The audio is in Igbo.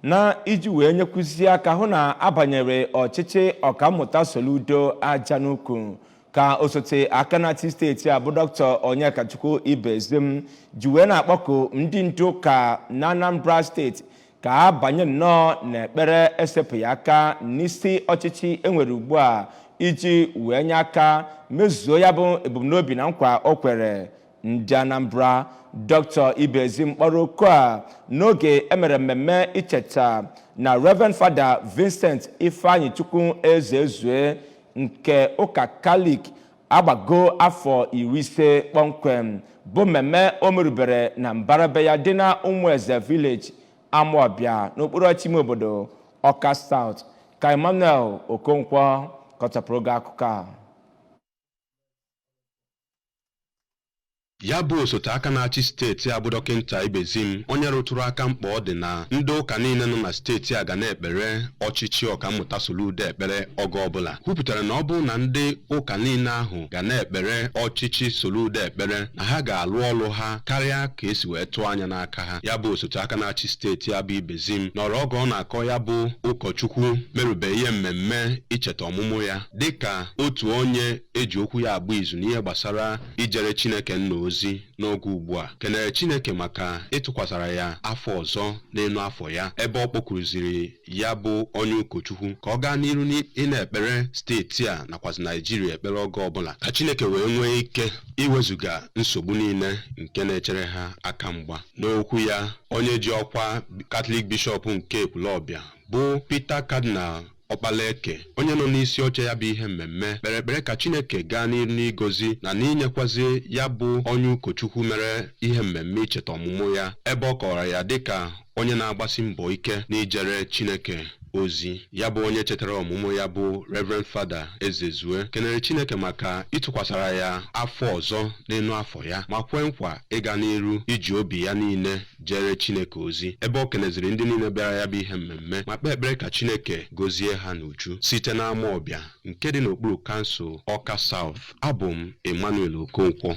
na iji wee nyekwuzie aka hụ na abanyere ọchịchị ọkammụta Soludo aja n'ukwu ka osote aka na-achị steeti a bụ dr Onyekachukwu Ibezim ji wee na-akpọku ndị ndu ụka na Anambra steeti ka ha banye nnọọ n'ekpere esepụghị aka n'isi ọchịchị enwere ugbu a iji wee nye aka mezuo ya bụ ebumnobi na nkwa o kwere ndị anambra dr ibezim kpọrọ oku a n'oge emere mmemme icheta na reverend fada vincent ifeanyichukwu ezezue nke ụka katọlik agbago afọ iri ise kpọmkwem bụ mmemme o merubere na mbara be ya dị na ụmụeze village amaọbịa n'okpuru ọchịchị ime obodo ọka south ka emmanuel okonkwo kọchapụrụ gị akụkọ a Ya bụ osote aka na-achị steeti a bụ Dọkịnta Ibezim onye rụtụrụ aka mkpa ọ dị na ndị ụka niile nọ na steeti a ga na-ekpere ọchịchị Ọkammụta Soludo ekpere oge ọbụla kwupụtara na ọ bụrụ na ndị ụka niile ahụ ga na-ekpere ọchịchị Soludo ekpere na ha ga-alụ ọlụ ha karịa ka esi wee tụọ anya n'aka ha ya bụ osote aka na-achị steeti a bụ Ibezim nọrọ oge ọ na-akọ ya bụ ụkọchukwu merube ihe mmemme icheta ọmụmụ ya dịka otu onye e ji okwu ya agba izu n'ihe gbasara ijere Chineke Nna ozi n'oge ugbu a, kenere Chineke maka ịtụkwasara ya afọ ọzọ n'enu afọ ya, ebe ọ kpọkuruziri ya bụ onye ụkọchukwu ka ọ gaa n'iru n'ịna-ekpere steeti a nakwazi Naijiria ekpere oge ọbụla ka Chineke wee nwee ike iwezuga nsogbu niile nke na-echere ha aka mgba. N'okwu ya, onye ji ọkwa Katọlik Bishọp nke Ekwulọbịa bụ Peter Cardinal Ọkpalaeke, onye nọ n'isi oche ya bụ ihe mmemme, kpere ekpere ka Chineke gaa n'iru n'igozi na n'inyekwazi ya bụ onye ụkọchukwu mere ihe mmemme icheta ọmụmụ ya, ebe ọ kọwara ya dịka onye na-agbasi mbọ ike n'ijere Chineke ozi. Ya bụ onye chetara ọmụmụ ya bụ Rev. Fada Ezezue, kenere Chineke maka ịtụkwasara ya afọ ọzọ n'enu afọ ya, ma kwe nkwa ịga n'iru iji obi ya niile jeere Chineke ozi ebe o keneziri ndị niile bịara ya bụ ihe mmemme ma kpee ekpere ka Chineke gozie ha n'uju site n'Amaọbịa nke dị n'okpuru kansụl Ọka South. Abụ m Emmanuel Okonkwo.